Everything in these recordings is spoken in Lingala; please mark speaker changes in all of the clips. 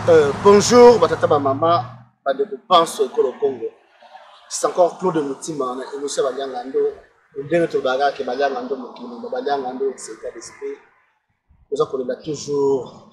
Speaker 1: Euh, bonjour batata bamama bandeko banso ekolo congo c'est encore claude motima na émission ya balianga ndo ndenge tolobaka ke balianga ndo mokili ma balianga ndo c'est état d'esprit toza kolela toujours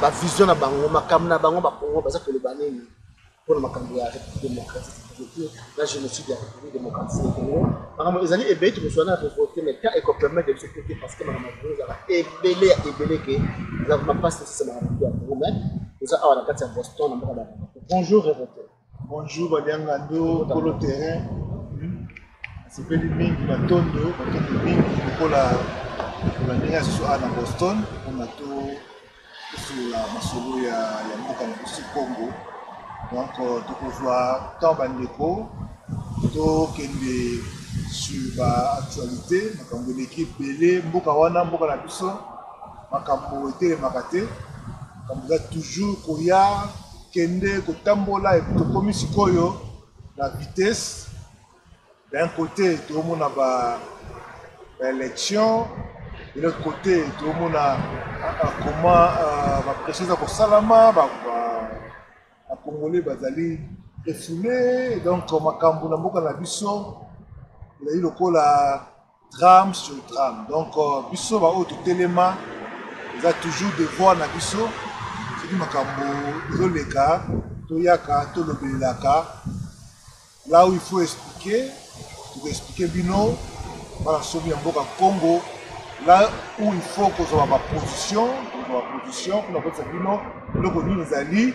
Speaker 1: ba vision na bango makambo na bango bakongo baza koloba nini mpo na makambo ya république démocratique na génocide ya république démocratique ya congo makambo ezali ebele tokozwa na revolte mais temps ekopermettre biso te parce que makambo yango ezala ebele ya ebele ke eza vraimen mpasi tosisa makambo ya congo mais toza awa na kati ya boston na mboka na bonjour revolte Bonjour
Speaker 2: Badiangando, Polo Terrain. Nasepeli mingi matondo, matondo mingi lokola lokola ndenge ya susu awa na Boston mpona to tosolola masolo ya ya mboka na biso Congo. Donc euh, tokozwa temps bandeko tokende sur ba actualité makambo eleki ebele mboka wana mboka na biso makambo etelemaka te makambo eza toujours koya Kende kotambola epuis tokomi sikoyo na vitesse d'un cote toomona ba baelections de l'autre cote toomona comment euh, bapression eza kosalama bacongolais bazali refoule donc makambo na mboka na biso ezali lokola Drame sur drame donc biso ba oyo totelema eza toujours devoir na biso soki makambo ezoleka toyaka tolobelelaka là où il faut expliquer tokoexplike bino bana somi ya mboka congo là où il faut kozwa baposition kozwa baposition mpona koyebisa bino eloko nini ezali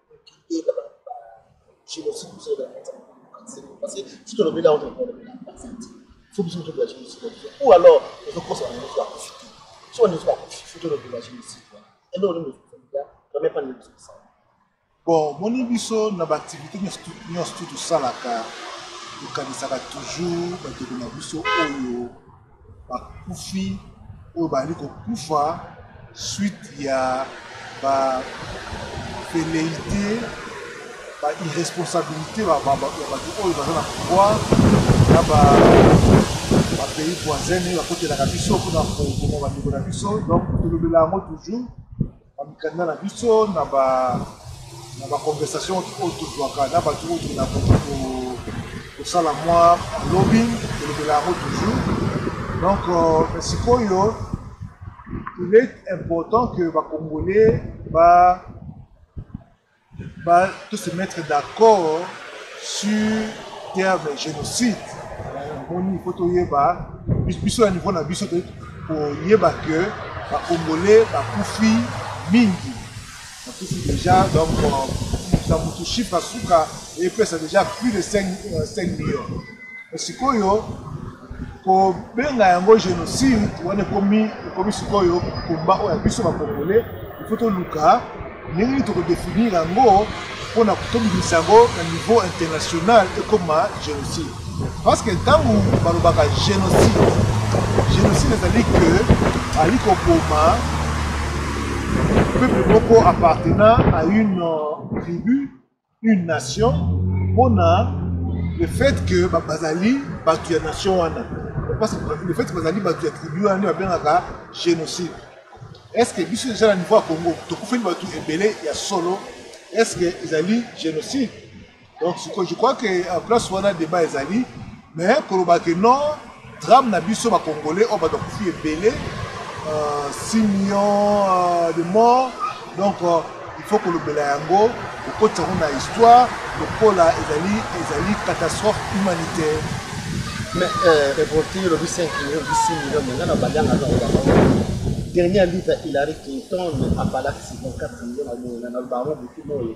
Speaker 1: Bon,
Speaker 2: moni biso na baaktivité nyonso tu tosalaka tokanisaka toujours bandeko na biso oyo bakufi oyo bazali kokufa suite ya ba velleite ba irresponsabilité ya bato oyo baza na pouvoir na ba bapays voisine bakotelaka biso mpona koboma bandeko na biso donc tolobela yango toujours Ba mikanda na biso na ba na ba conversation oyo tozwaka na batu oyo tokenda kosala mwa lobbying tolobela yango toujours donc mais sikoyo il est important que ba congolais ba ba to se mettre d'accord sur terme génocide omoni il faut toyeba biso ya niveau na biso toyei koyeba que bacongolais bakufi mingi bakufi déjà donc na motu chiffre asuka epesa déjà plus de 5 euh, millions sikoyo kobenga yango génocide wana ekomi ekomi sikoyo komba oyo ya biso bakongole ifo toluka ndenge nini tokodefinir yango mpo na kotobimisa yango na niveau international ekoma génocide parce que ntango balobaka génocide génocide ezali ke ali koboma peuple moko appartenant à une euh, tribu une nation pona le fait que bazali batu ya nation wana parce que le fait que bazali batu ya tribu wana nde babengaka génocide est ce que biso deja na niveau ya congo tokufeli batu ebele ya solo est ce que ezali génocide donc je crois que en place wana débat ezali Mais koloba que non drame na biso ba congolais oyo bato bakufi ebele 6 euh, millions euh, de morts donc euh, il faut kolobela yango kokotisa yango na histoire lokola ezali ezali catastrophe humanitaire
Speaker 1: mais reporti olobi 5 million 6 million me nga na balianga naoba dernier litre hilary clinton apalaki 54 million na boyena na bango butu boye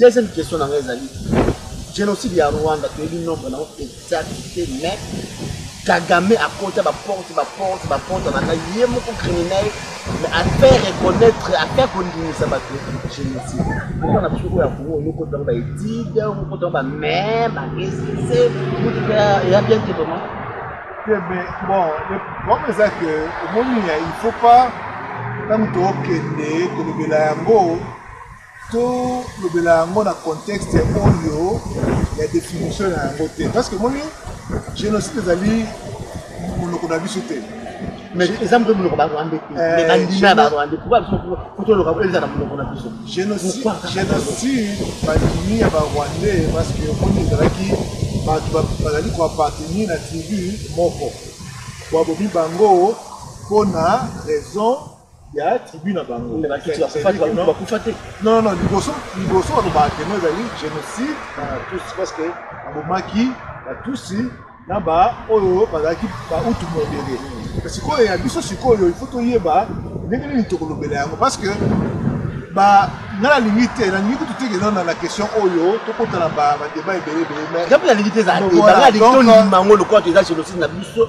Speaker 1: Deuxième question na ngai ezali genocide ya Rwanda toyebi nombre na exact te mais Kagame akota ba porte ba porte ba porte na ngai ye moko criminel mais à faire reconnaître à faire kondimisa bato génocide pourquoi na biso oyo ya Congo yo kota ba étude yo kota ba mais ba esquisse mutu pe ya bien te vraiment te mais
Speaker 2: bon le problème eza que omoni il faut pas ntango tokende kolobela yango Tolobela yango na contexte oyo ya definition na yango te parce que moni génocide ezali monoko na biso te mais eza
Speaker 1: mpe monoko barwande te eh, mais bandima barwande pourquoi biso kotoloka po ezala monoko na biso
Speaker 2: génocide bandimi ya barwande parce que omoni ezalaki bato bazali koappartenir na tribu moko babomi bango mpo na raison ya tribu na bango bakufa te non non liboso liboso balobaka temo ezali génocide na batusi parce que abomaki batusi na baoyo bazalaki bautu modele sikoyo ya biso sikoyo ifo toyeba ndenge nini tokolobela yango parce que ba nga nalingi te nalingi kutu te keza na question oyo tokota na badeba ebele ebele mais nalingi te ezala te
Speaker 1: nalingi tondima yango lokola toza génocide na biso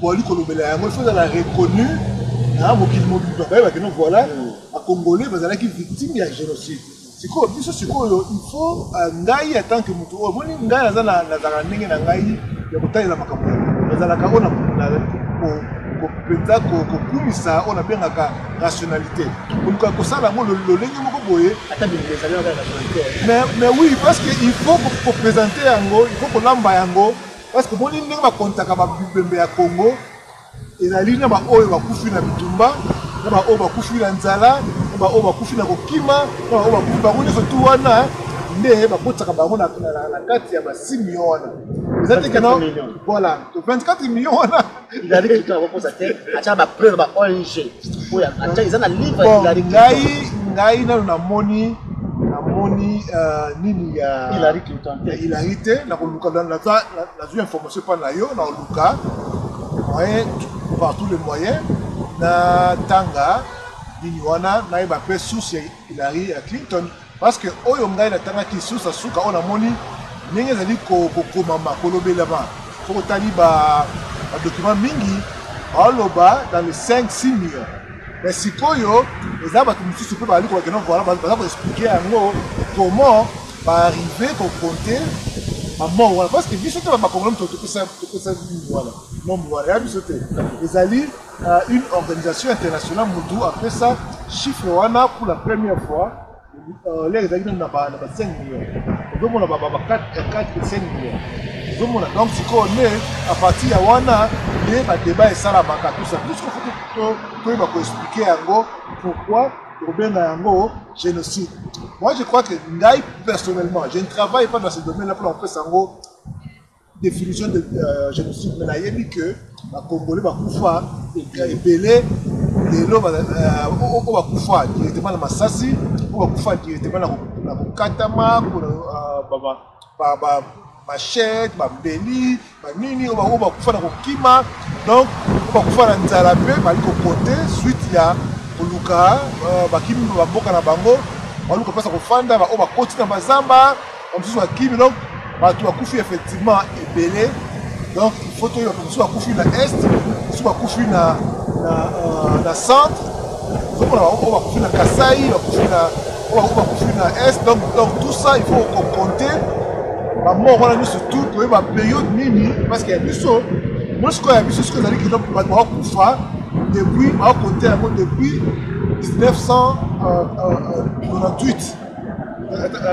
Speaker 2: bozali kolobela yango ifo ezala reconnu na mokili mobimba bayeba kino voilà bacongolais bazalaki victime ya génocide sikoyo biso sikoyo ifo euh, ngai atant que moto oyo omoni ngai naza nazalaka ndenge na ngai ya kotalela makambo yango nazalaka oyo mpenza kokumisa oyo nabengaka rationalité koluka kosala yango lolenge moko boye mais oui parce que il faut kopresente yango il faut kolamba yango Parce que boni ndenge ba comptaka ba bibembe ya Congo ezali na ba oyo bakufi na bitumba na ba oyo bakufi na nzala na ba oyo bakufi na kokima na ba oyo bakufi bango nyonso tu wana nde bakotisaka bango na kati ya ba 6 millions wana eza te kena voilà 24 millions wana Hillary Clinton
Speaker 1: akokosa te atyaka bapreuve ba ong oyo atya eza na livre ya Hillary Clinton. ngai
Speaker 2: ngai nano namoni namoni euh, nini ya Hillary Clinton te. ya
Speaker 1: Hillary te nakoluka
Speaker 2: na- naza- na- nazwi information epai na yo nakoluka moyen par tous les moyens natanga nini wana nayeba mpe source ya Hillary ya Clinton Parce que oyo ngai natangaki susa suka oyo namoni ndenge ezali kokomama kolobelama soki otali badocument mingi baoloba dans le 5 6 millions mais sikoyo eza bato mosusu mpe bazali kolakena voila baza koexplike yango comment baarrive kokonte bamort wana parce que biso te bakongolo moto topesa nini wana nombre wana ya biso te ezali na une organisation internationale mutu apesa chiffre wana pour la première fois euh, lere ezalaki nanu na ba 5 million ozomona ba 4 5 million ozomona donc sikoyo nde à partir ya wana nde badebat esalamaka tusa puisque fo toyeba koexplike yango pourquoi tokobenga yango génocide moi je crois que ngai personnellement je ne travaille pas dans ce domaine là mpona kopesa yango definition de genocide mais nayebi que ba congolais bakufa ebele lelo oyo bakufa directement na masasi oyo bakufa directement na kokatama bamachete bambeli banini oyo bakufa na kokima donc oyo bakufa na nzala mpe bali kokote suite ya koluka bakimi bamboka na bango baluka mpasa kofanda baoyo bakoti na bazamba Ba mosusu bakimi donc bato bakufi effectivement ebele donc il faut toyeba bato mosusu bakufi na est mosusu bakufi na, na, uh, na centre ozomona baoyo bakufi na kasai bakufi na oyo bakufi na est donc donc tout ça il faut kokonte bamoko wana nyonso tout toyeba periode nini parce que ya biso moi sikoyo ya biso soki ezali kino bato bakokufa depuis bakokonte yango depuis 1998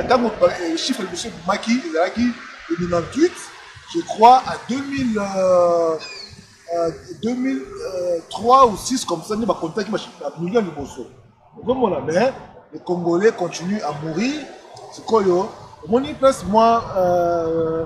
Speaker 2: ntango chiffre liboso ebimaki ezalaki le 98 je crois à 2000 euh, euh, 2003 euh, ou 6 comme ça nde bakontaki bamillion liboso okomona mais le congolais continue à mourir sikoyo omoni place mwa euh,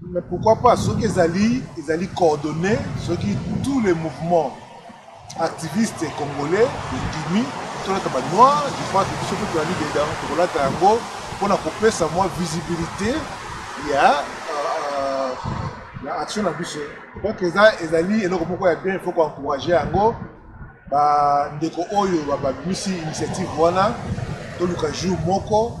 Speaker 1: Mais pourquoi
Speaker 2: pas soki ezali ezali coordonné soki tous les mouvements activistes congolais edimi tolata ba noir je crois que biso mpe tolali dedans tokolata yango mpona kopesa mwa visibilité ya na action na biso donc eza ezali eloko moko ya bien faut koencourage yango bandeko oyo babimisi initiative wana toluka jour moko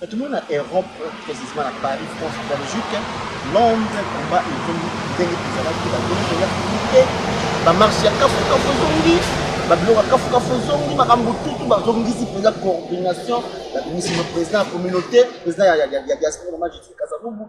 Speaker 1: Mais tout le monde na Europe, précisément na Paris, France, Belgique, Londres, combat et tout, ndenge tozalaki ba ndenge toya publique, ba marche ya kafu kafu ezongi, ba biloko ya kafu kafu ezongi, makambo tutu bazongisi mpenza coordination, babimisi mo président ya communauté, président ya, ya, ya, ya diaspora, mama Justine Kasavubu,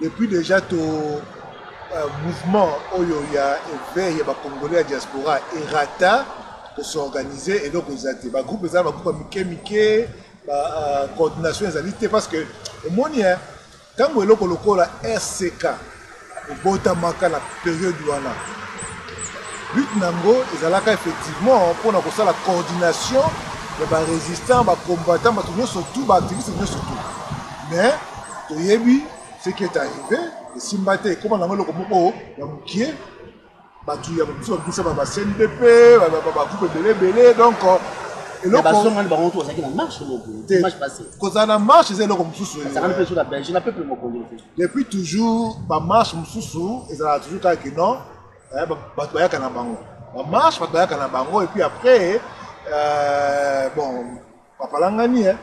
Speaker 2: Depuis dejà to euh, mouvement oyo ya éveil ya ba congolais ya diaspora erata ko s'organiser eloko eza te ba groupe eza ba groupe ya mike mike ba euh, coordination ezali te parce que omoni hein, ntango eloko lokola rck ebotamaka na periode wana but na yango ezalaka effectivement mpona kosala coordination ya barésistant bacombattant bato nyonso tout baactiviste nyonso tout mais toyebi ce qui est arrivé esimba te ekoma nango eloko moko ya mokie bato ya biso babisa ba cndp bagroupe ebele ebele donc
Speaker 1: kozala na marche eza eloko mosusu
Speaker 2: depuis toujours bamarche mosusu ezalaka toujours kaka ke non eh, bato bayaka na bango bamarche bato bayaka na bango epuis après euh, bon bapalangani eh?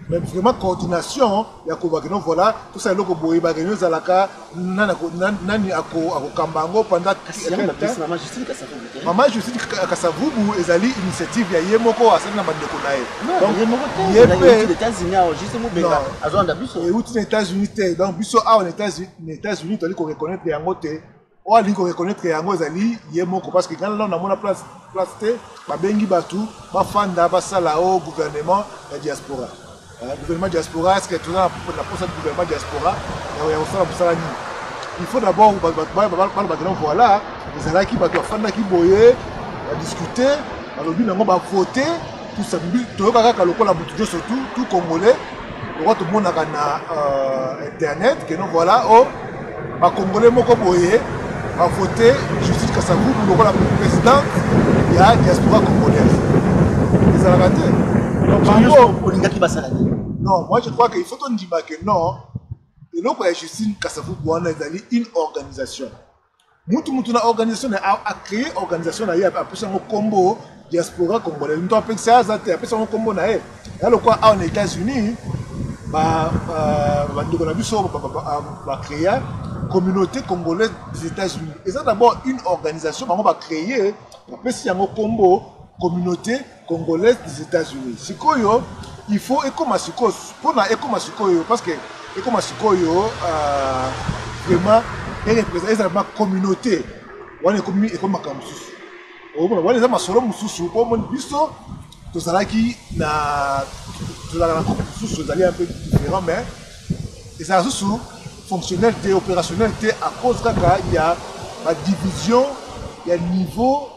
Speaker 2: mais vraiment coordination ya koloba keno voilà tosala eloko boye bakeno ezalaka nani akokamba yango pendant mama justine kasavubu ezali initiative ya ye moko asali na bandeko na ye ye mpe
Speaker 1: euti na états-unis te
Speaker 2: donc biso awa na états-unis toyali koreconnaitre yango te oyo alingi koreconnaitre yango ezali ye moko parce que ngai nano namona place place te babengi bato bafanda basala o oh, gouvernement ya diaspora euh, gouvernement diaspora est ce que toza na posa ya gouvernement diaspora ya kosala mosala nini il faut d'abord balobaki no voilà ezalaki bato bafandaki boye badiscute balobi nango bavote toyoka kaka lokola motu nyonso tu tu congolais lokola tomonaka na euh, internet keno voilà o oh, bacongolais moko boye bavote justice kasavubu lokola présidente ya diaspora congolaise ezalaka te olingaki basala nini non moi je crois que il faut tondima que non eloko ya justine kasavubu wana ezali une organisation mutu mutu na organisation na a créer organisation na ye apesa yango kombo diaspora congolais mutu apekisa ye aza te apesa yango kombo na ye ya lokola awa na états-unis bandeko na biso bacréa communauté congolaise des états-unis eza d'abord une organisation bango bacréer bapesi yango kombo communauté Congolais des Etats Unis sikoyo il faut ekoma sikoyo mpona ekoma sikoyo parce que ekoma sikoyo euh, vraiment erepresente ezala ma communauté wana ekomi ekomi makambo mosusu omona wana eza masolo mosusu mpo omoni biso tozalaki na tozalaka na groupe mosusu ezali un peu différent mais ezala susu fonctionnel te opérationnel te à cause kaka ya badivision ya niveau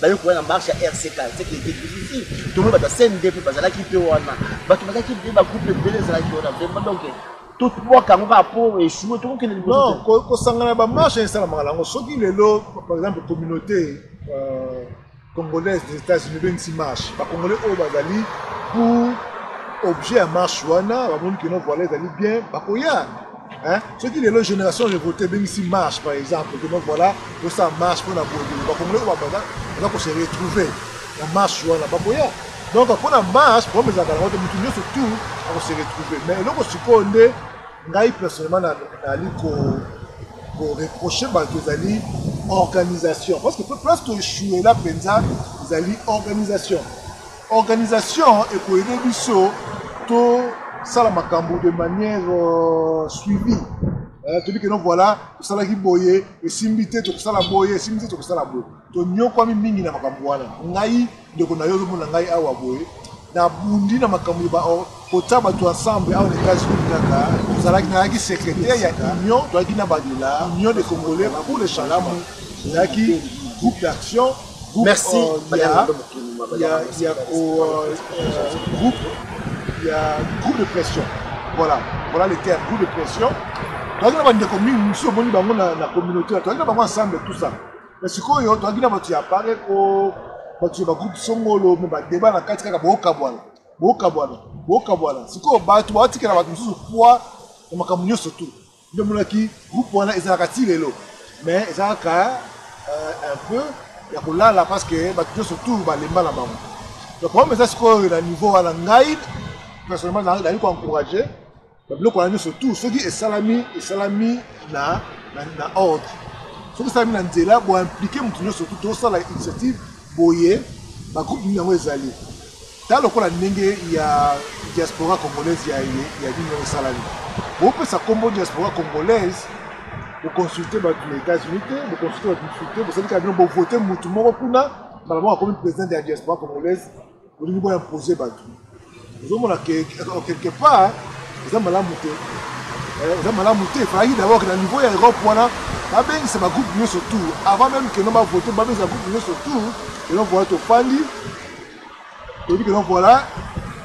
Speaker 1: baye koya na marche ya rcka seke ete bififi tomoni bato ya cnd mpe bazalaki mpe wana bato bazalaki mpe bagroupe ebele ezalaki wana vraiment donc totwaka yango kaka mpo echoue tokokende liboso kosangana
Speaker 2: bamarche esalamaka nango soki lelo par exemple communauté euh, congolaise des états-unis ebengisi marche bacongolais oyo bazali pour objet ya marche wana bamoni kino voila ezali bien bakoya Hein? soki lelo génération révolté ebengisi marche par exemple que donc voilà tosala marche mpona boyebele bakongolai babaza baza kose retrouver na marche wana bakoya donc mpona marche problème ezalaka nango te motu nyonso tout akose retrouver mais eloko sikoyo nde ngai personnellement nali koreproche bato ezali organisation parce que place toechoue la mpenza ezali organisation Organisation eko aider biso to sala makambo de manière euh, suivie. Euh, toyebi keno voilà tosalaki boye esimbi te tokosala boye esimbi te tokosala boye tonyokwami mingi na makambo wana ngai ndeko na yo ozomona ngai awa boye nabundi na makambo kotia bato ensemble awa na Etats-Unis kaka tozalaki nazalaki secrétaire ya union toyaki na badela union de congolais pour le changement ezalaki groupe d'action merci euh,
Speaker 1: ya,
Speaker 2: ya, ya, euh, groupe ya groupe de pression voilà voilà le terme groupe de pression toyaki na bandeko mingi mosusu omoni bango na, na communauté toyaki na bango ensemble tout ça mais sikoyo toyaki na bato ya pareko bato ya bagroupe songolo me badeba na kati kaka bookabwana bokabwana bokabwana sikoyo bato baotikela bato mosusu poi na makambo nyonso tu nde omonaki groupe wana ezalaka ti lelo mais eza kaka euh, un peu ya kolala parce que bato nyonso tu balemba na bango donc problème eza sikoyo na niveau wana ngai personnellement nayebi koencourage babiloko wana nyonso tu soki esalami esalami na, na, na ordre soki esalami na nzela boimplike moto nyonso tu tosala initiative boye bagroupe nini yango ezali ta lokola ndenge ya diaspora congolaise ya, ya nini yango esalami bopesa nkombo diaspora congolaise boconsulte bato na états-unis te boconsulte bato mosusu te bosali kaka bino bovote motu moko kuna mbala moko akomi président ya diaspora congolaise Bolingi bo imposer batu. Ozomona que quelque part eza malamu te. Eh, eza malamu te. Fallait d'abord que na niveau ya Europe wana babengisa ba groupe nyoso tout avant même que no ba voter babengisa groupe nyoso tout et donc voilà tofandi toyebi que donc voilà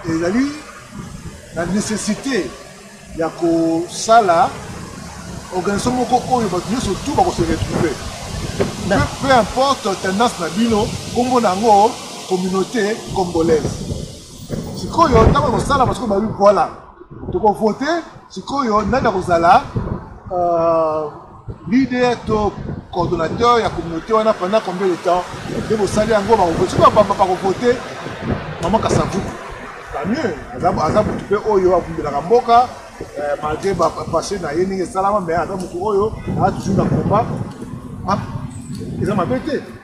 Speaker 2: ezali la nécessité ya kosala organisation moko oyo bato nyonso tu bako se retrouver peu, peu importe tendance na bino nkombo na yango communauté congolaise sikoyo ntango ya kosala basiko babi voilà tokovote sikoyo nani akozala uh, leader to coordonnateur ya communauté wana pendant combien de temps nde bosali yango bakovote soki bapamba bakovote mama kasavuku tamieux aza motu mpe oyo abundelaka mboka eh, malgré bapasse na ye ndenge esalama mais aza motu oyo aza toujours na combat ah, eza mabe te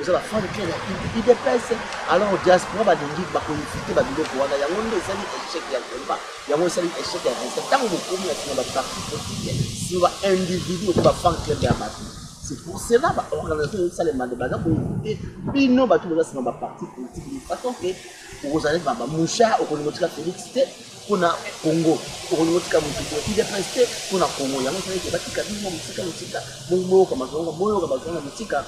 Speaker 1: oza ba fan club ya udps alors diaspora balingi bakoinvite babiloko wana yango nde esali échec ya combat yango esali échec ya resta ntango bokomi na nsima baparti politique sur ba individu okomi ba fan club ya bato c'est pour cela baorganisation ezosalema nde baza koinvite bino bato boza nsima baparti politique de façon ke okozala neti baba mouchard okolinga otika félix te mpo na congo okolinga otika motu te udps te mpo na congo yango esala ete batika bino mwa mosika mosika boyoka bazonga boyoka bazonga mosika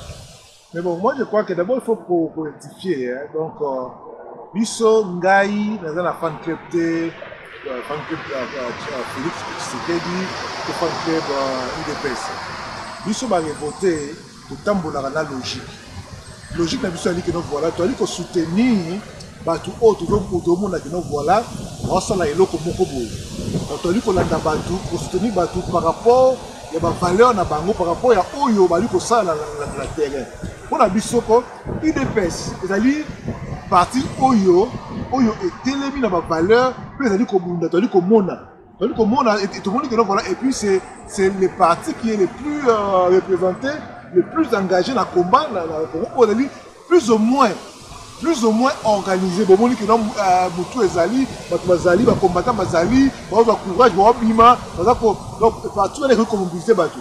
Speaker 1: mais bon moi
Speaker 2: je crois que d'abord il faut korectifie hein? donc euh, biso ngai naza na fan club te euh, fan club euh, félix tshisekedi to fan club udps biso barevote Totambolaka na logique. Logique na biso ezali que non voilà tozali ko soutenir bato oyo tozomona que non voilà baosala eloko moko boye. Donc tozali kolanda bato, ko soutenir bato par rapport ya ba valeurs na bango, par rapport ya oyo bazali kosala na terrain. Mpo na biso ko udps ezali parti oyo oyo etelemi na ba valeurs mpe ezali kobunda, tozali komona Tozali komona tomoni que voilà et puis c'est c'est le parti qui est le plus euh, représenté, le plus engagé na combat na na Congo ozali plus ou moins plus ou moins organisé bomoni que donc euh, mutu ezali bato bazali ba combattant bazali baoza courage baobima baza ko donc parti wana ekoki komobilize bato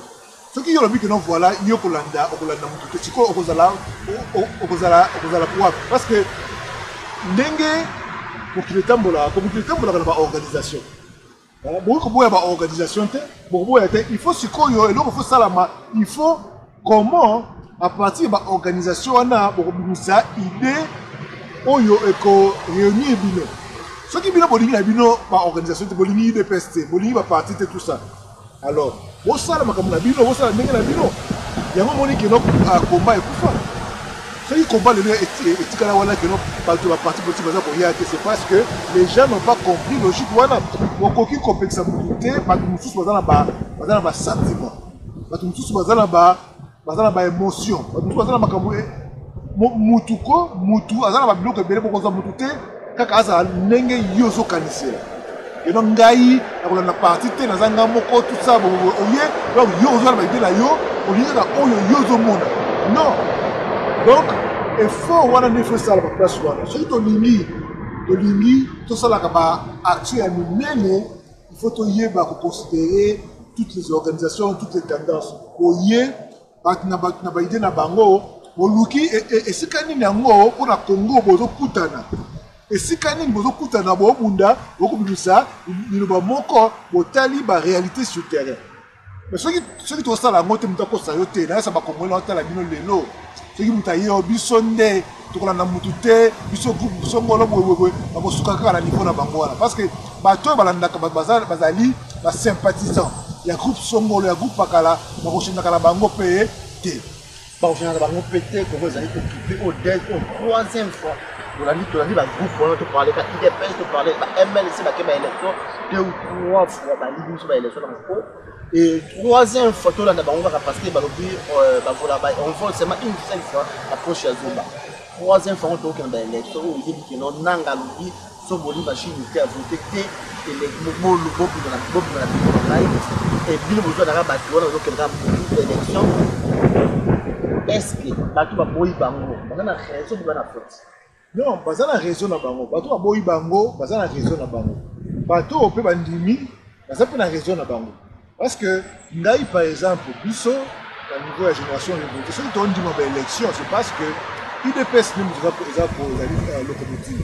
Speaker 2: Soki yo olobi que non voila yo kolanda okolanda mutu te sikoyo okozala okozala okozala kuwapi parce que ndenge mokili etambolaka ko mokili etambolaka na ba organisation eh, bokoki koboya ba organisation te bokoboya te il faut sikoyo eloko faut salama il faut comment à partir ba organisation wana bokobimisa idée oyo eko réunir bino soki bino bolingi na bino ba organisation te bolingi udps te bolingi ba parti te tout ça Alors bosala makambo na bino, bosala ndenge na bino. Yango omoni keno komba ah, ekufa. Soki komba lelo etikala wana keno bato ba parti politique baza koya te, c'est parce que les gens n'ont pas compris logique wana. Okoki kopekisa moto te, bato mosusu baza na ba baza na ba sentiment, bato mosusu baza na ba baza na baémotion bato mosusu baza na makambo eh, mutu ko mutu aza na babiloko ebele bokozwa mutu te kaka azala ndenge yo ozokanisela eno ngai nakolanda parti te naza ngai moko tusa oye donc yo ozwa na baide na yo olingi kaka oyo yo ozomona non donc effort wana nde efosala baplace wana soki tolingi tolingi tosalaka baaction ya minene il faut toyeba koconsidere toutes les organisations toutes les tendances oye bato na bato na baide na bango boluki e, e, esika nini yango mpo na congo bozokutana esika nini bozokutana bobunda bokobimisa liloba moko botali baréalité sur terrain mais soki soki tokosala yango te moto akosa yo te nayesa bakongoli naotala bino lelo soki moto aye yo biso nde tokolanda motu te biso groupe biso ngolo boyeboye bakosuka kaka na niveau na bango wana parce que bato oyo balandaka bazali basympathisant ya groupe songolo ya groupe pakala bakoshendaka na bango mpe te Bakosana na bango
Speaker 1: mpe te, Congo ezali kokipe oyo des oyo troisième fois tolandi tolandi bagroupe wana toparleka idps toparle ba mlc bake ba élection deux ou trois fois baligi biso ba élection na moko et troisième fois tolanda bango kaka parce que balobi euh, bavola on vole seulement une seule fois approche ya zumba troisième fois ngo tokokende ba élection oyo oyebi keno nanga alobi Soki boni ba shimi te avote te eleki bolu bobima na bobima na bino ngai et bino bozo na bato wana bozo kenda pour élection est-ce que bato ba boyi bango baza na raison boza na faute non baza na
Speaker 2: raison na bango bato ba boyi bango baza na raison na bango bato oyo pe bandimi baza pe na raison na bango Parce que ngai par exemple biso na niveau ya génération revolte soki tondima ba élection c'est parce que udps nde moto eza kozali euh, locomotive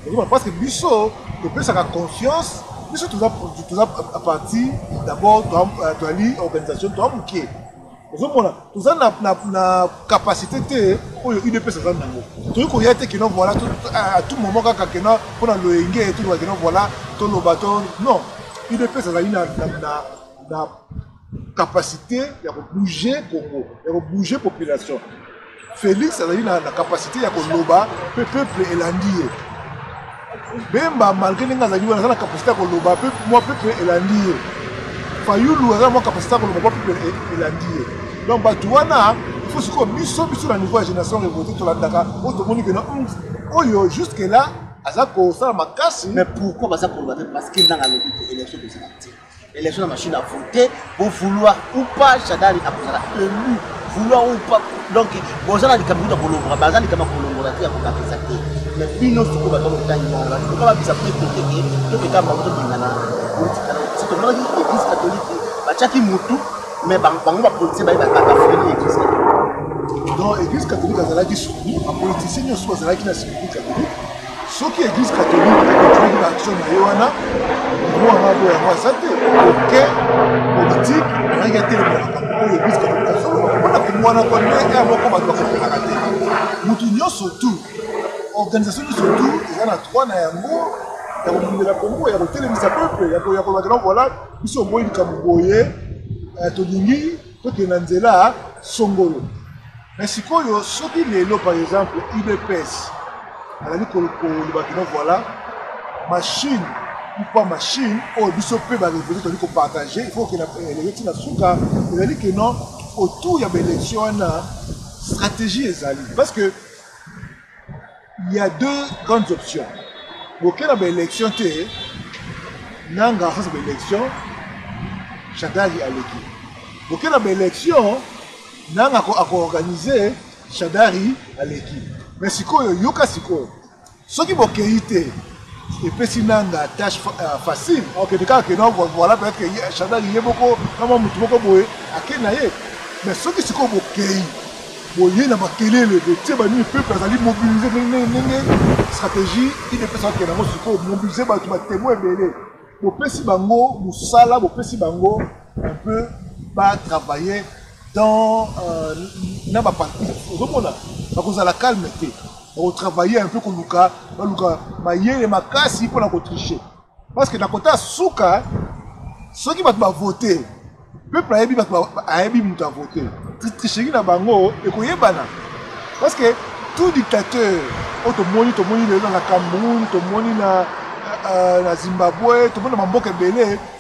Speaker 2: okoma parce que biso topesaka confiance biso toza parti d'abord toali euh, organisation toa moke ozomona toza na, na, na capacité te oyo udps aza nango toyei koya te keno voilà à tout moment kaka keno mpo na loyenge toloba keno voilà toloba to non udps azali na, na, na, na capacité ya kobouge congo ya kobouge population Felix azali na, na capacité ya koloba mpe peuple elandi ye. Bemba malgré ndenge azali wana aza na capacité ya koloba mpe mwa peuple elandi ye. Fayulu aza na mwa capacité ya koloba mwa peuple e, elandi ye. Donc bato wana il faut sikoyo biso biso na niveau ya génération révoltée tolandaka oyo tomoni kena hmm, oyo jusque là aza kosala makasi. Mais pourquoi baza
Speaker 1: koloba te parce que ndanga alobi que élection tozala te. Election na machine à voter, pour vouloir ou pas, Chadari a besoin élu, vouloir ou pas. Donc, boza na likambo ya kolongola, baza likambo ya kolongola te ya kokakisa te. Mais bino soko baza kotangi bango, bato kaka bisa mpe koteke, to keka bango tobengana politika na osi. Tomonaki église catholique, batiaki mutu, mais bango bapolitien baye bakaka freni église catholique. Donc, église catholique
Speaker 2: azalaki suku, bapolitisien nyonso bazalaki na suku catholique. soki eglise catholique ekontinue na action na ye wana droit na boya yango aza te oke politique ayaki atelema makambo oyo eglise catholique asoloba mpona komwana kwa ndenge ya moko bato bakopelaka te motu nyonso tu organisation nyonso tu eza na droit na yango ya kobundela kongo ya kotelemisa peuple ya kolobakela voila biso oboyi likambo boye eh, tolingi tokende na nzela songolo Mais sikoyo soki lelo par exemple udps azali koloba kino voilà machine ou pas machine oyo biso mpe barevolte tozali kopartage il faut okenda elenge ntina suka ezali ke non autour ya baélection wana stratégie ezali parce que Il y a deux grandes options. Bokena ba élection te nanga sasa ba élection Shadari aleki. Bokena ba élection nanga ko ako organiser Shadari aleki. Mais sikoyo yoka sikoyo soki bokei te epesi nanga tâche euh, facile akende kaka kena voilà peut-être que chantal ye moko na mwa motu moko boye ake na ye mais soki sikoyo bokei boye na makelele botie banini peuple azali mobilise ndenge stratégie ine epesa bakende yango sikoyo mobilise bato batemo ebele bopesi bango mosala bopesi bango un peu batravaille dans euh, na baparti ozomona bakozala calme te bakotravaille un peu koluka baluka mayele makasi mpo na kotriche parce que na kota suka soki bato bavote peuple ayebi bato ayebi moto avote tricheki na bango ekoyebana parce que tout dictateur oyo tomoni tomoni lelo na cameroun tomoni na, euh, na zimbabwe tomoni na bamboka ebele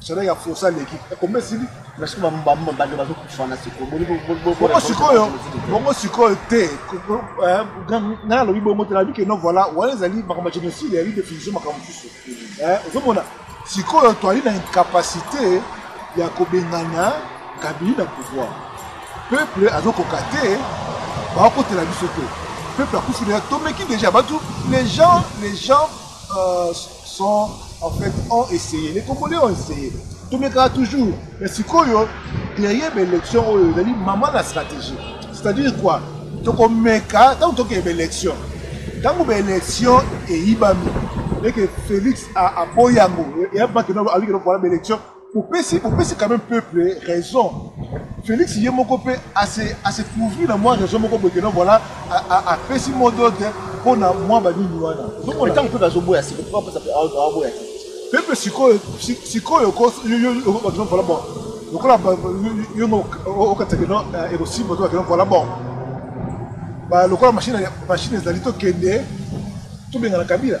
Speaker 2: Chaleur ya fosa aleki kombe esili nasuki bambamba
Speaker 1: bande bazokufana sikoyobongo sikoyo
Speaker 2: bongo sikoyo te eh, ngai alobi bongo te nayebi keno voilà wana ezali makambo ya génocide ya redefinition makambo mosusu eh, ozomona sikoyo toali na incapacité ya kobengana kabili na pouvoir peuple azokoka te bakotela biso te peuple akufi deja tomeki deja bato les gens les gens euh, sont en fait ont essayé les congolais ont essayé tomekaka toujours mais sikoyo derrière baélection oyo ezali mama na stratégie c'est-à-dire quoi tokomeka ntango tokeye baélection ntango baélection eyibami eke félix aboyi yango eyabaki aliki nokola baélection Opesi opesi quand même peuple raison. Felix ye moko pe a se a se couvrir na moi raison moko boye que non voilà a pesi mot d'ordre mpo na mwa ba nini wana. Ozokomona tango peuple azoboya
Speaker 1: siko mpo apesa azoboya te. Peuple sikoyo
Speaker 2: sikoyo ko yo yo yo voilà bon. Lokola yo ngo okatisa que non ekosimba to que non voilà bon. Ba lokola machine machine ezali tokende tobengana Kabila.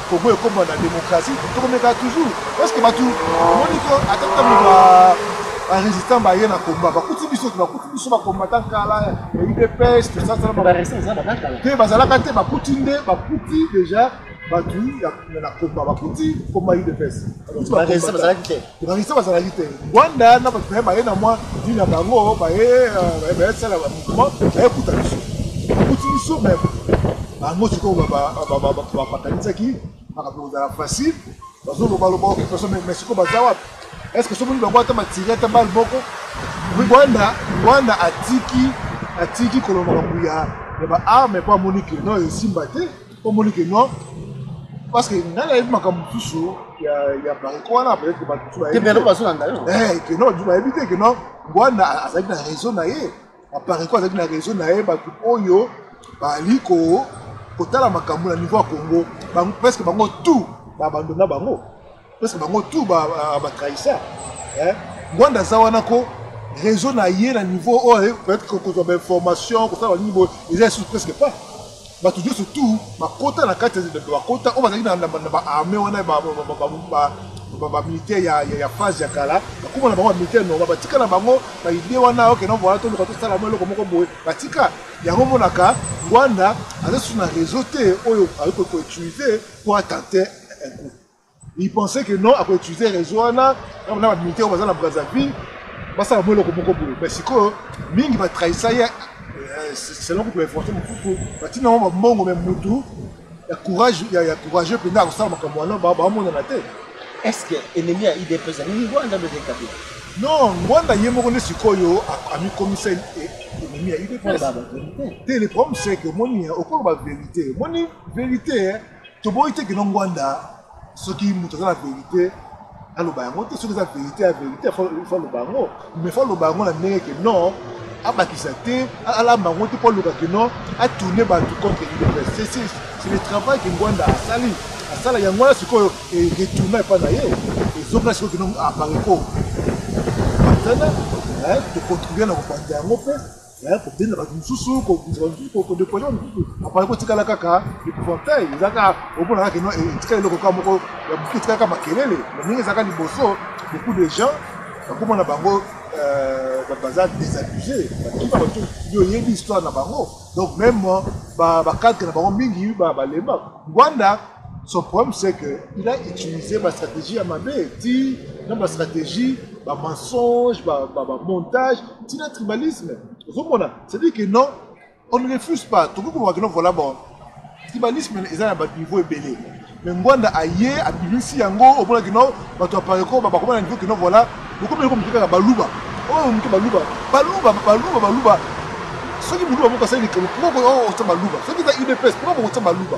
Speaker 2: Congo ekoma na democratie tokomeka toujours parce que batu omoni ko ata ntango ba ba résistant baye na combat bakuti biso te bakuti biso ba combattant kala ya udps tosasala
Speaker 1: te bazalaka te bakuti
Speaker 2: nde bakuti déjà batu na combat bakuti combat udps bazalaki
Speaker 1: te Bangisa bazalaki
Speaker 2: te Rwanda na bato naye baye na mwa dini na bango baye euh, bayesala mouvement bayekuta biso bakuti biso me bango sikoyo bapatanisaki makambo kozala facile bazolobaloba okipaso me sikoyo baza wapi est ce que somoni bango ata matiri ata bale moko rwanda rwanda atiki atiki koloba makambo ya baarme mpo amoni ke no esimba te Omoni que non parce que ngai nayebi makambo mosusu ya bariko wana peut-être que bato mosusu bayebi bazolanda yo eh, que non bato bayebi te que non ngwana azalaki na réseau na ye apariko azalaki na réseau na ye bato oyo bali kotala makambo na niveau ya congo presque bango tout babandona bango Parce que bango tout ba ba trahisseur. Hein? Ngwanda aza wana ko réseau na ye na niveau oyo oh, eh, peut-être que kozwa ba information kosala nini boye eza lisusu presque pas. Bato nyonso tout bakota na kati bakota oyo oh, bazalaki na ba armée wana ba ba ba ba bamilitaire ya, ya, ya phase ya kala bakoma na bango bamilitaire noma batika na bango baide wana okena voila toluka tosala mo eloko moko boye batika yango omonaka rwanda aza susu na réseau te oyo akoki koutilize mpo atente un coup Il pensait que non, ako utiliser réseau wana, na ba militaires oyo baza na Brazzaville, basala mwa eloko moko boye. Mais sikoyo mingi ba trahisa ye euh, selon kutu ba influence mosusu batina yango bambongo, mais mutu ya courage ya, ya courageux mpenza akosala makambo wana bamonana te. Est-ce que
Speaker 1: ennemi ya UDPS ni Rwanda nde ezali Kabila? Non, Rwanda
Speaker 2: ye moko nde sikoyo amikomisa ennemi ya UDPS. Te, le problème c'est que moni okoloba verite, moni verite toboyi te kino ngwanda soki moto aza na verité aloba yango te soki eza verité ya verité fo aloba yango mais fo aloba yango na ndenge ke non abakisa te alamba yango te mpo aloba ke non atourne bato contre université c'est le travail ke ngwanda asali asala yango wana sikoyo retourna epai na ye ezonga sikoyo kino apareko tana tocontribue na kopanza yango mpe Eh, kobenda bato mosusu kobunda bato mosusu kodepoise bato mosusu apana kotikala kaka epouvantail eza kaka omona kaka kino eh, etikala eloko kaka moko ya moke etikala kaka makelele na ndenge ezalaka liboso beaucoup de gens bakoma na bango euh, baza désabuse bakima bato yo oyebi histoire na bango donc même bacadre na bango mingi balemba ngwanda Son problème c'est que il a utilisé ba stratégie ya mabe ti na ba stratégie ba mensonge ba, ba, ba montage ti na tribalisme ozomona c'est dire que non on ne refuse pas tokoki koloba kino voilà bon tribalisme eza na baniveau ebele mais ngwanda aye abimisi yango omona kino bato ya pareko bakoma na niveau kino voilà bokomi eloko moke kaka baluba oyo moke baluba baluba baluba baluba soki moluba moko asali likolo mpo oyo osa baluba soki eza udps mpo bokosa baluba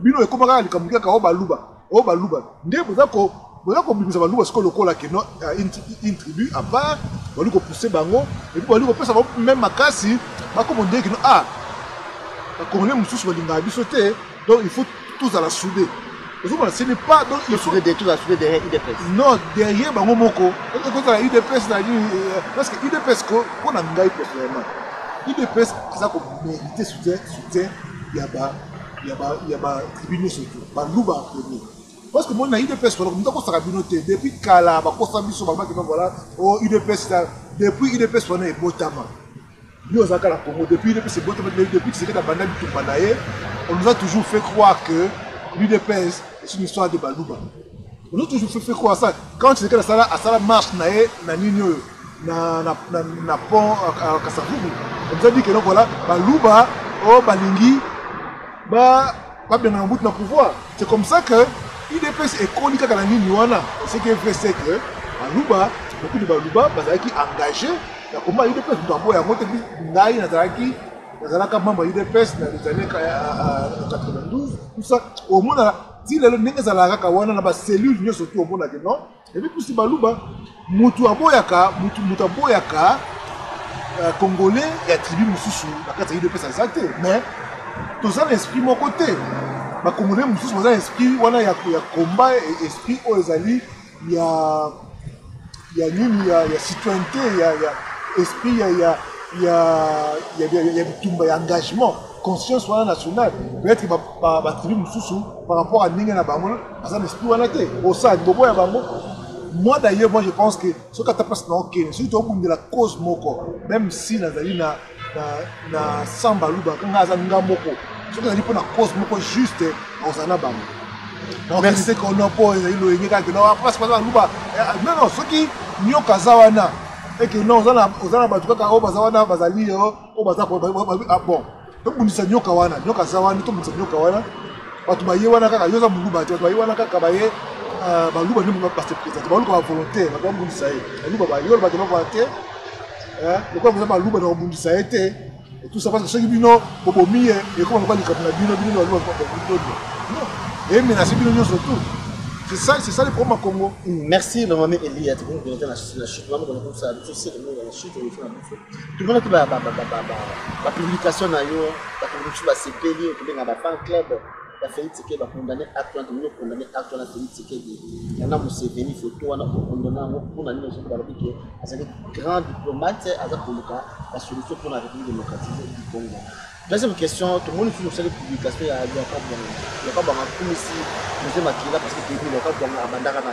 Speaker 2: Bino ekoma kaka likambo kaka o oh, baluba, o oh, baluba. Nde boza ko boza kobimisa baluba sikoyo lokola ke non euh, une tribu à part bali kopousse bango epuis bali kopesa bango meme makasi bakoma ndenge kino ah bakongole mosusu balingaka biso te donc il faut tozala soude ozomona ce n'est pas donc il faut tozala soude derrière udps non derrière bango moko ekozala udps na nini euh, parce que udps ko mpo na ngai personnellement udps eza komérite soutien soutien ya ba ya ba ya ba tribune nyonso te baluba en premier parce que moni na udps koloko moto akosaka bino te depuis kala bakosa biso balobaki no voilà o oh, udps depuis udps wana ebotama yo ozalaka na congo depuis udps ebotama depuis kisekete abanda bitumba na ye on nous a toujours fait croire que l'udps est une histoire de baluba ozo toujours fefe ko asala quand tu ekala asala asala marche na ye na nini oyo na na na, na pont euh, kasavubu oza dit que donc voilà baluba oyo oh, balingi ba babengana mobutu na pouvoir c'est comme ça que idps ekoli kaka na nini wana ce qui est vrai c'est que baluba beaucoup de baluba bazalaki engagé na komba idps moto aboya yango te ngai nazalaki nazalaka membre ya udps na les années 92 tout ça omona ti lelo ndenge ezalaka kaka wana na bacellule nyonso tu omonake non ebi pusi baluba motu aboyaka motu motu aboyaka euh, congolais ya tribu mosusu na kati ya idps aza te mais toza na esprit moko te bacongolais mosusu baza na esprit wana ya combat esprit oyo ezali ya ya nini ya, ya citoyenneté ya, ya esprit ya, ya, ya, ya, ya, ya bitumba ya engagement conscience wana nationale peut-être batribu mosusu par rapport à ndenge na bango baza na esprit wana te osala libobo ya bango moi d'ailleurs moi je pense que soki ata place na okende soki tokobundela cause moko même si nazali na na, na samba luba nga aza nga moko soki ezali mpo na cause moko juste ozala na bango merci kono mpo ezali loyenge kaka no apres baza baluba non non soki nyoka aza wana eke non oza na bato kaka oyo baza wana bazali yo oyo baza bon tobundisa nyoka wana nyoka aza wana tobundisa nyoka wana bato baye wana kaka yo oza moluba te bato baye wana kaka baye baluba nde base présente baluka bavolontaire bato babundisa ye baluba baye oloba te bakola te eh, lokola boza baluba na kobundisa ye te etusa parce que soki bino bobomi ye ekoma lokola likambo na bino bino baluba eye menase bino nyonso tout C'est ça, c'est ça le problème à Congo. Merci, le moment
Speaker 1: Elia, tu peux nous la chute, maman, comme ça, tu sais, le moment la chute, on fait la bouffe. Tout le monde qui va, la publication, la publication, la CPD, la fan club. ya Felix Tshisekedi ba condamner acte wana tolingi condamner acte wana Felix Tshisekedi yana Museveni photo wana ko condamner yango mpo na nini soki balobi ke azali grand diplomate aza koluka ba solution mpo na République démocratique du Congo deuxième question tomoni soki osali publication ya Luaka Bwanga Luaka Bwanga akumisi José Makila parce que toyebi Luaka Bwanga abandaka na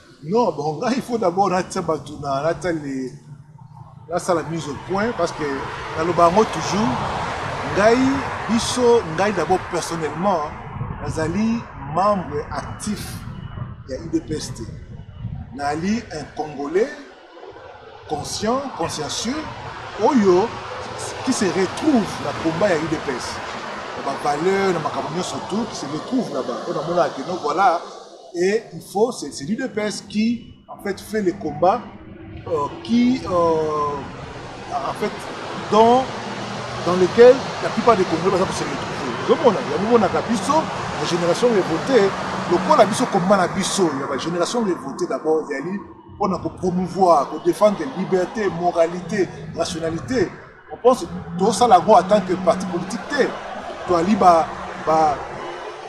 Speaker 1: Non, bon, ngai il
Speaker 2: faut d'abord natia bato na natia le nasala mise au point parce que naloba yango toujours ngai biso ngai d'abord personnellement nazali membre actif ya udps te nali un congolais conscient, consciencieux, oyo qui se retrouve na combat ya UDPS. Na ba valeurs, na makambo nyonso tout, qui se retrouve là-bas. On a mona que non, voilà, et il faut, c'est l'UDPS qui, en fait, fait les combats, euh, qui, euh, en fait, dans, dans lequel la plupart des Congolais peuvent se retrouver. Je mona, ya mona ka biso, la génération est votée, lokola biso combat na biso, ya ba génération est votée d'abord, yali mpo na kopromouvoir kodefendre liberté moralité rationalité on pense tosala yango en tant que parti politique te toali ba, ba,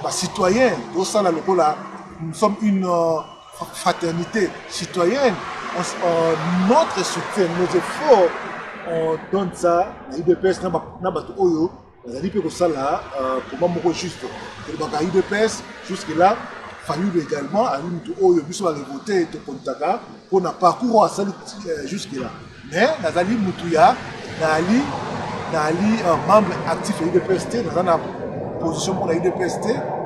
Speaker 2: ba citoyen tosala lokola nous sommes une euh, fraternité citoyenne on, euh, notre soutien nos efforts on donne ça na udps na bato oyo Nazali mpe kosala euh, combat moko juste tolobaka udps jusque là fayulu également ali moto oyo biso barevote tokontaka mpo na parcours oyo asali euh, jusque là mais nazali motu ya naali naali euh, membre actif ya udps te naza na position mpo na udps te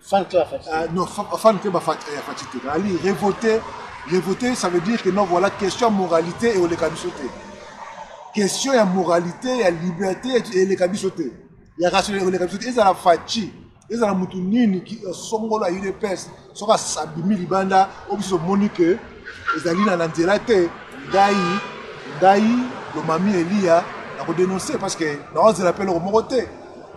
Speaker 2: Fan
Speaker 1: club euh, non,
Speaker 2: fan club ya Fatshi te. Ali révolté, révolté ça veut dire que non voilà question moralité et oleka biso te. Question ya moralité, ya liberté et oleka biso te. Ya rationalité oleka biso te. Ezala Fatshi, ezala mutu nini ki euh, songolo ya UDPS soki asabimi libanda oyo biso omoni ke ezali na nzela te ngai ngai lomami eliya nakodenonse parce que naozela mpe eloko moko te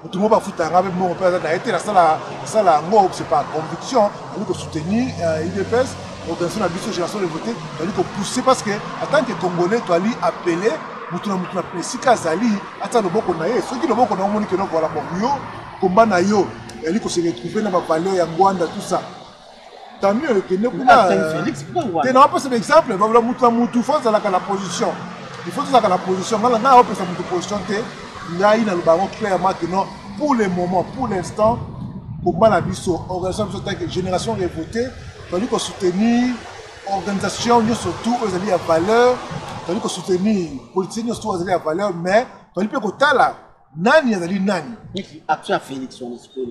Speaker 2: moto moko bafuta nga mpe mbongo mpe aza na ye te nasala sala yango c'est par conviction ali kosoutenir euh, udps organisation na biso génération de vote tozali kopousse parce que en tant que congolais toali appele moto na moto na esika azali atia loboko na ye soki loboko na yo omoni keno voila bon yo komba na yo yali koseretrouve na bavaleur ya ngwanda tout ça Tamio ekende kuna
Speaker 1: te na wapesa baexemple
Speaker 2: babula mutu na mutu fo azalaka na position il faut tozalaka na position ngai ngai awapesa mutu position te ngai naloba yango clairement que non pour le moment pour l'instant combat na biso organisation na biso tanke génération revote tozali kosoutenir organisation nyonso tout oyo ezali ya valeur tozali kosoutenir politique nyonso tout azali ya valeur mais tozali mpe kotala nani azali nani action ya félix
Speaker 1: wana sikoyo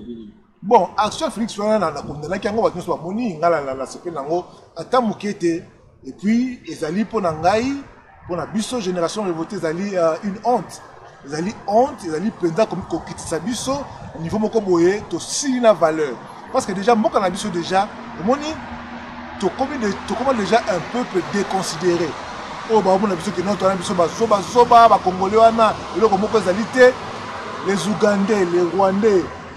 Speaker 1: bon action
Speaker 2: felix wana na condamnaki yango bato nyonso bamoni ngai na nasepeli nango ata moke te epuis ezali mpo na ngai mpo na biso génération revolte ezali euh, une honte ezali honte ezali mpenza kokitisa biso niveau moko boye tosili na valeur parce que déjà mboka na biso déjà omoni tokoma de, tokoma déjà un peuple déconsidéré oyo baomona biso kino twana biso bazobazoba bakongole wana eloko moko ezali te les ougandais les rwandais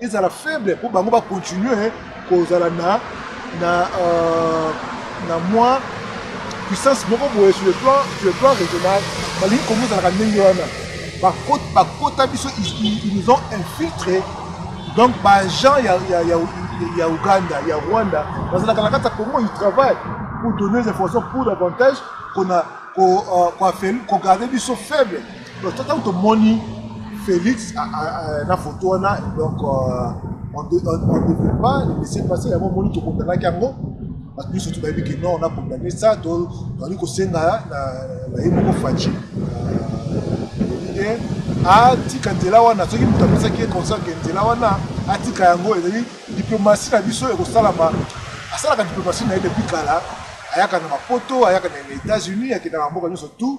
Speaker 2: ezala faible mpo bango bacontinue kozala na na euh, na mwa puissance moko boye sur le plan sur le plan régional balingi kongo ezalaka ndenge wana bakota biso ils nous ont infiltré donc baagent ya, ya, ya, ya uganda ya rwanda bazalaka na kati ya congo ils travaillent pour donner des informations pour davantage kona kogarde euh, biso faible Donc, tant que moni Félix a, a, a, na photo wana donc euh, on ne devait pas le laisser passer yango moni tokondanaki yango bato nyonso to bayebi ke non na condamne ça to tozali kosenga na ye moko faci euh, atika nzela wana soki moto apesaki ye consent ke nzela wana atika yango ezali diplomasi na biso ekosalama asalaka diplomasi na ye depuis kala ayaka na mapoto ayaka na états-unis akendaka mboka nyonso tout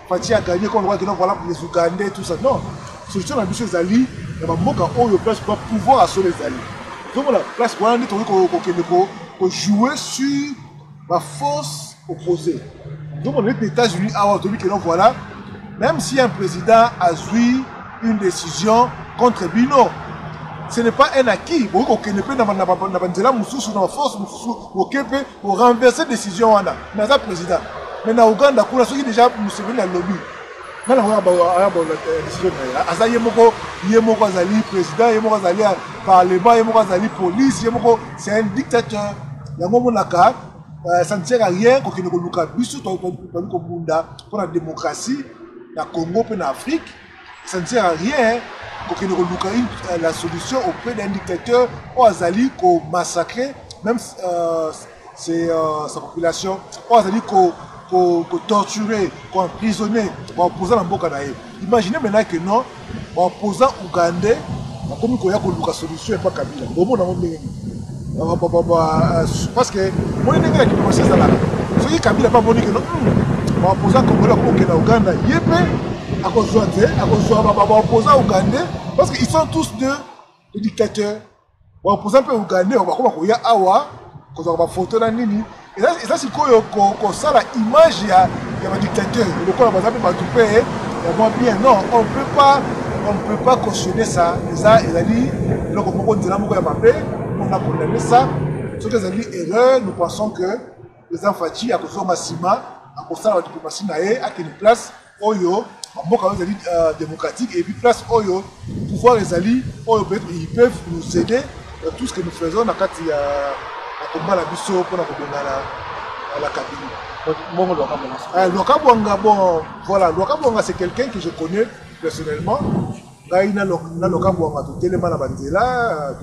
Speaker 2: Fatshi a gagné comme lokola voilà pour les Ougandais tout ça non solution na biso ezali na bamboka oyo place ba pouvoir ya solo ezali tokomona place wana nde tokoki kokende kojouer sur baforce opposé tokomona neti na états-unis awa toyebi keno voilà même si un président azwi une décision contre bino ce n'est pas un acquis bokoki kokende mpe na banzela mosusu na baforce mosusu boke mpe ko renverser décision wana mais aza président mais na Ouganda kuna soki déjà Museveni alobi nana oyo ayabola euh, décision na ye aza ye moko ye moko azali président ye moko azali parlement ye moko azali police ye moko c'est un dictateur yango omonaka euh, ça ne sert à rien kokende koluka biso toyali kobunda mpo na démocratie na congo mpe na afrique ça ne sert à rien kokende koluka euh, la solution auprès d'un dictateur oyo azali komassacre même euh, c'est, euh, sa population oyo azali kotorture koemprisonne baopposant na mboka na ye imagine maintenant que non baopposant ougandais bakomi koya koluka solution epa kabila bomona yango ndenge nini parce que moni ndenge na diplomatie ezalaka soki kabila mpe amoni keno baopoza hmm, congolais akokokenda uganda ye mpe akozwa te akozwa baopoza ugandais parce que ils sont tous deux les dictateurs baopoza mpe ugandais bakoma koya awa kozwaka bafoto na nini eza sikoyo kosala image ya badictateur lokola baza mpe bato mpe ya mwa bien non on peut pas on ne peut pas cautionner ça eza ezali eloko moko nzela moko ya mabe mpona condamne ça soki ezali erreur nous pensons que président faci akozonga nsima akosala badiplomatie na ye akende place oyo ba mboka oyo ezali euh, democratique et puis place oyo pouvoir ezali oyo peut-être ils peuvent nous aider dans tout ce que nous faisons na kati ya na combat na biso mpona kobonga na la kabili bongo lwakabwanga eh, lwakabwanga bon voilà lwakabwanga c'est quelqu'un que je connais personnellement Ngai na Lokambo Wanga totelema na banzela,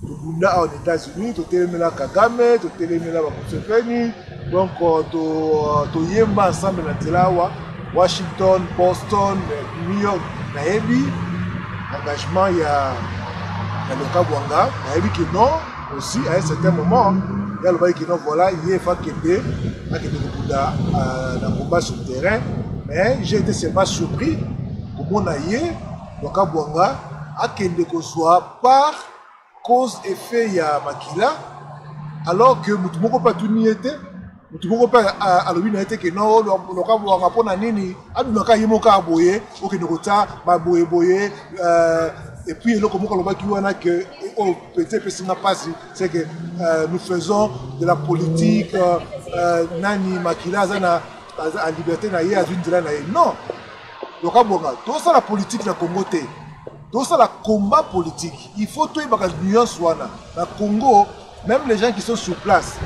Speaker 2: tobunda awa na Etats-Unis, totelemela Kagame, totelemela ba Museveni, donc toyemba to ensemble na nzela awa Washington, Boston, New York, nayebi engagement ya ya Lokambo Wanga, nayebi que non aussi à un certain moment ye alobaki que non voilà ye efa kende akende kobunda na combat sur terrain mais j'ai été seulement surpris Komona ye Rwakabuanga akende kozua part cause effet ya makila alors que mutu moko pe atuni ye te mutu moko pe alobi na ye te ke no Rwakabuanga mpo na nini adunaka ye moko kaka boye okende kotia baboye boye euh, et puis eloko moko alobaki wana ke eh, oyo oh, pete epesi nga mpasi c'est que euh, nous faisons de la politique euh, nani makila aza na liberté na ye azwi nzela na ye non Yoka bonga, tosala politique na Congo te. Tosala combat politique. Il faut toyebaka nuance wana. Na Congo, même les gens qui sont sur place,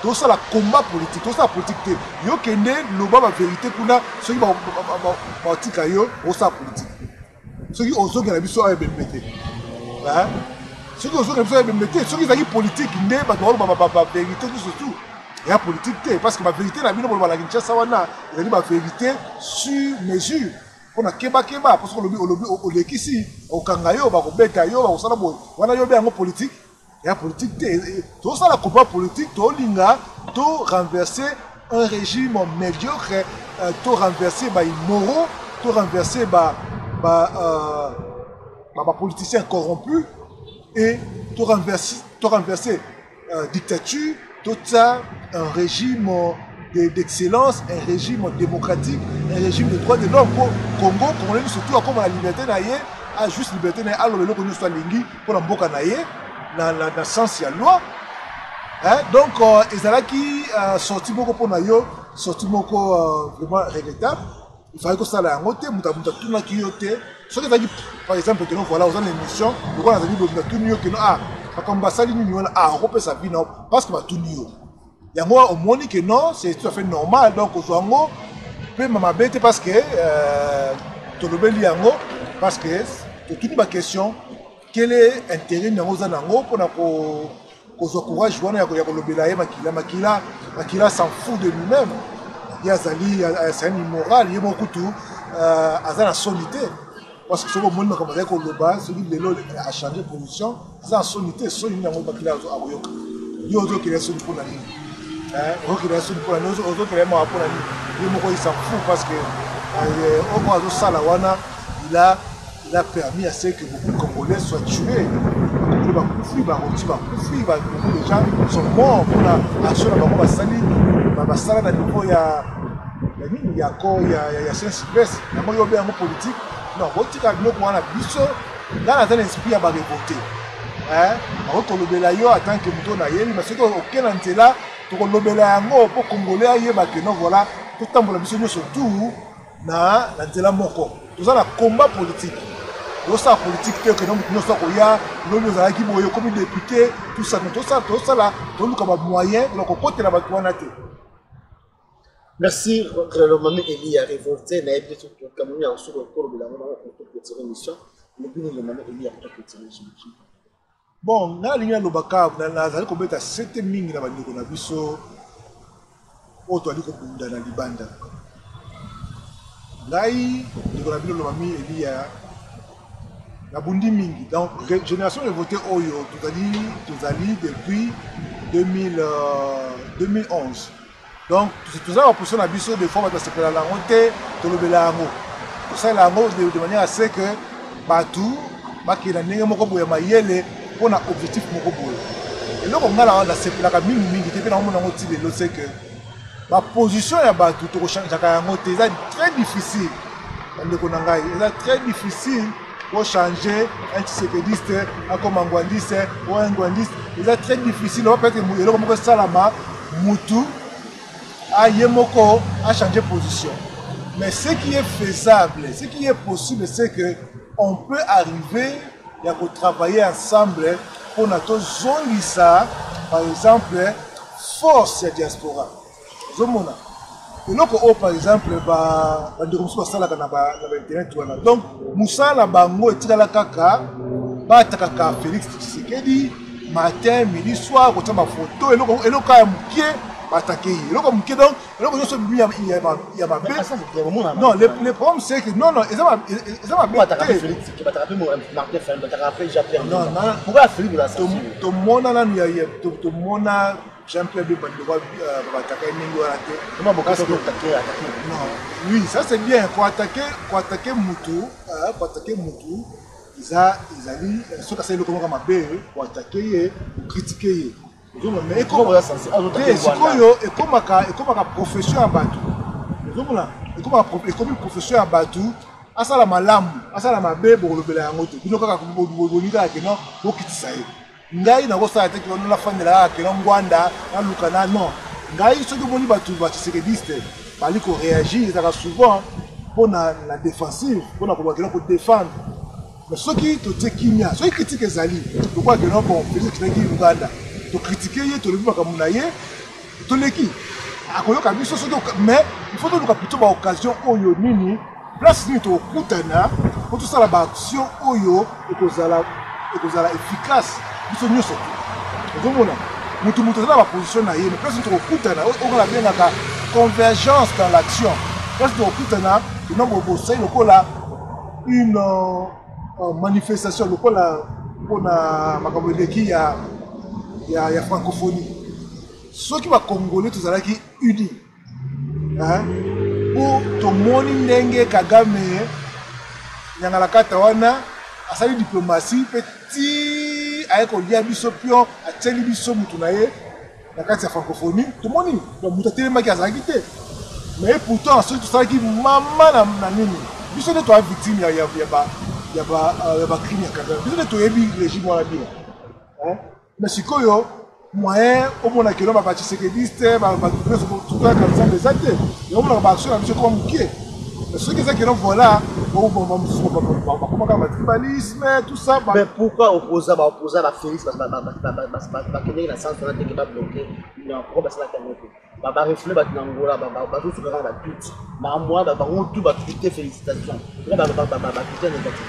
Speaker 2: tosala combat politique, tosala politique te. Yo kende loba ba vérité kuna soki ba ba tika yo osala politique. Soki ozoki na biso ayo bembe te. Hein? Soki ozoki na biso ayo bembe te, soki ezali politique nde bato ba ba ba vérité tout surtout. ya politique te parce que ba vérité na bino bolobala kinshasa wana ezali ba vérité sur mesure mpona kebakeba mpo soki olobi olobi olekisi okanga yo bakobeta yo bakosala boye wana yo obe yango politike ya politike te eh, eh, tozosala combat politike tolinga to renverse un régime médiocre euh, to renverse baimoraux to renverse bapoliticien euh, corrompu et to renverse euh, dictature to tsa un régime euh, d'excellence de, un régime démocratique un régime de droit de l'homme mpo congo congolais nyonso tu akoma na liberté na ye a juste liberté na ye aloba eloko nyonso alingi mpo na mboka na ye na, na, na sens ya loi hein? donc euh, ezalaki euh, sorti moko mpo na yo sorti moko euh, vraiment regrettable ozalaki kosala yango te moto moto atunaki yo te soki ezalaki par exemple keno voilà oza na émission lokola azali boye moto atuni yo keno ah makambo basali nini wana ah okopesa vi nao parce que batuni yo yango omoni ke non c'est tout à fait normal donc ozwa yango mpema mabe te parce que euh, tolobeli yango parce que totuni baquestion Quel est intérêt nango oza nango pona ko kozwa courage wana ya kolobela ye makila makila makila s'en fout de lui-même ye azali c'est un immoral ye moko kutu euh, aza na soni te parce que soki omoni makambo azali koloba soki lelo achange position aza na soni te soni nini yango makila akoyoka yo ozokela soni mpo na nini ozokela soni mpo na nini ozokela ye mawa mpo na nini ye moko ye s'en fout parce que euh, oyo azosala wana il a Il a permis à ce que beaucoup de Congolais soient tués. Bakongolais bakufi, barundi bakufi, ba- beaucoup de gens sont morts mpona action na bango basali ba- basala na niveau ya ya nini ya ko ya ya- ya science presse yango yo obe yango politique non botika biloko wana biso ngai naza na esprit ya barevolte bakoki kolobela yo atant que moto na yebi mais soki oke na nzela tokolobela yango mpo congolais ayeba que non voilà totambola biso nyonso tout na na nzela moko toza na combat politique osala politike te okende motu nyonso akoya lobi ozalaki boye okomi depute tusa me tosala tosala toluka bamoyen na kokotela bato wana te merci
Speaker 1: mami eli ya révolte nayebi te soki tokamoni yango soki okolobela yango nango koto petire mission lobini le mami eli ya koto petire jimajim Bon,
Speaker 2: nga nalingi naloba kaka nazali kobeta sete mingi na bandeko na biso oyo toali kobunda na libanda. Ngai ndeko na bino lobami Eliya nabundi mingi. Donc génération de vote oyo tozali tozali depuis 2000, euh, 2011 Donc toza ba position na biso des fois bato basepela na yango te tolobela yango tosalela yango de manière à ce que bato bakenda ndenge moko boye ya mayele mpo na objectif moko boye eloko ngai na nasepelaka mingi mingi te mpe nakomona yango ti lelo se que baposition ya bato tokochangeaka yango te eza très difficile bandeko na ngai eza très difficile Bo changer un tshisekediste akoma ngwandiste ou un ngwandiste eza très difficile oyo peut-être eloko moko esalama mutu aye moko a changer position mais ce qui est faisable ce qui est possible c'est que on peut arriver ya ko travailler ensemble mpona tozongisa par exemple force ya diaspora ozomona eloko oyo par exemple bandeko mosusu basalaka na bainternet wana donc mosala na bango etikala kaka batakaka félix tshisekedi matin midi soir kotya bafoto eloko ya mokie batake ye eloko moke donc eloko nyonso bimi ya mabe non le problème c'est que non non eza mabetomona nanu tomona Jean Pierre Bemba ne doit pas attaquer ndenge wana te. Comment beaucoup sont attaqués attaquer Non, oui, ça c'est bien ko attaquer ko attaquer mutu, euh, ko attaquer mutu eza ezali euh, soki asali eloko moko mabe ko attaquer ye, ko critiquer ye. Ozomona mais ekomaka sikoyo ekomaka ekomaka profession ya bato. Ozomona ekomaka ekomi profession ya bato asala malamu asala mabe bokolobela yango te bino kaka bolingi kaka kino bokitisa ye Ngai nako sala te kilo na fandela kaka kilo ngwanda na luka na non ngai soki omoni batu ba tshisekediste bali ko reagir ezaka souvent pona la defensive pona koloba kilo ko defendre mais soki totie kimia soki critique ezali lokola kilo bon Felix kitaki Uganda to critiquer ye tolobi makambo na ye toleki akoyoka biso soki mais il faut toluka plutôt ba occasion oyo nini place nini tokokutana mpo tosala ba action oyo ekozala ekozala efficace biso nyonso ozomona motu motu aza na baposition na ye mais place nini tokokutana oyo nabengaka convergence dans l'action place tokokutana ena bosai lokola une oh, manifestation lokola mpona makambo eleki ya, ya, ya francophonie soki bakongole tozalaki uni mpo tomoni ndenge kagame nyangalakata wana asali diplomasi mpe ti aye kolia biso pio atyeli biso motu na ye na kati ya francophonie tomoni moto atelemaki azalaki te mais pourtant soki tosalaki mama na nini biso nde toya victime ya bacrime ya kagame biso nde toyebi régime wana bino mais sikoyo moyen omona kelo babacisekediste bato nyonso tokoyaka nzambe eza te yango monaka baaction na biso ekoma moke soki eza keno voilà oboma mosusu bakoma kaka batribalisme tout ça mais pourquoi opposa
Speaker 1: baopposa na félix bakendeki na sens wana teke babloke yango basalaki yango te barefule bato na ngola bazosuka kaka batute na mwa bango tu batute félicitation batute negative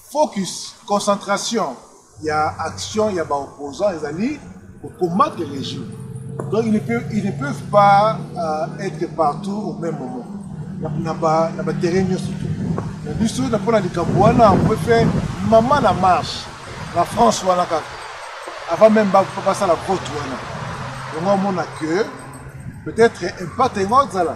Speaker 2: Focus, concentration, ya action ya ba opposants ezali ko combattre le régime. Donc ils ne peuvent, ils ne peuvent pas euh, être partout au même moment. Na ba na ba terrain nyonso tout. Na biso na pona likambo wana on peut faire maman na marche na France wana kaka avant même ba passer la vote wana. Donc on a que peut-être impact yango azala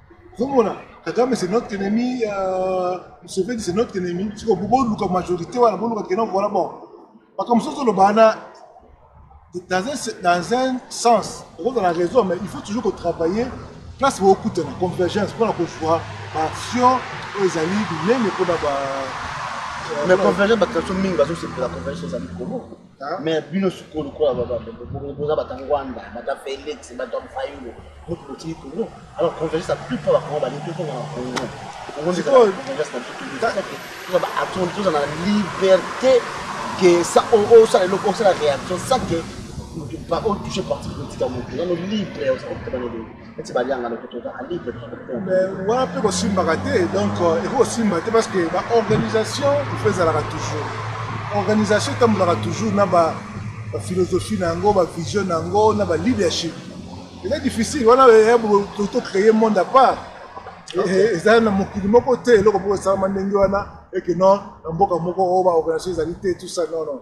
Speaker 2: ozomona kagame c'est notre ennemi euh, museveni c'est notre ennemi siko boluka majorité wana boluka kena voilà bon makambo mosusu ozoloba wana dans un, dans un sens okozala raison mais il faut toujours kotravailler place bokutana convergence mpona kozwa baaction oyo ezali minene mpona ba
Speaker 1: euh, mais convergence bato mingi bazosepela convergence ezali kongo mais bino sikoyo lokola boza bata ngwanda bata felix bata fayulu mutu botiki kongo alors convergence la plupart bakongo balingi tozonga na kongo tozala na liberté ke osala eloko osala réaction sans ke otouche parti politique ya moto nano libre okoki kobana eloko ete balianga lokuta ozaka libre wana
Speaker 2: mpe kosimbaka te donc euh, ekoki kosimba te parce que baorganisation ifo ezalaka toujours organisation etambolaka toujours na baphilosophie na yango bavision na yango na baleadership eza difficile wana tocree monde à part eza eh, eh, na mokili moko te eloko moko esalama ndenge wana eke non na mboka moko oyo baorganisation ezali te tout ça non non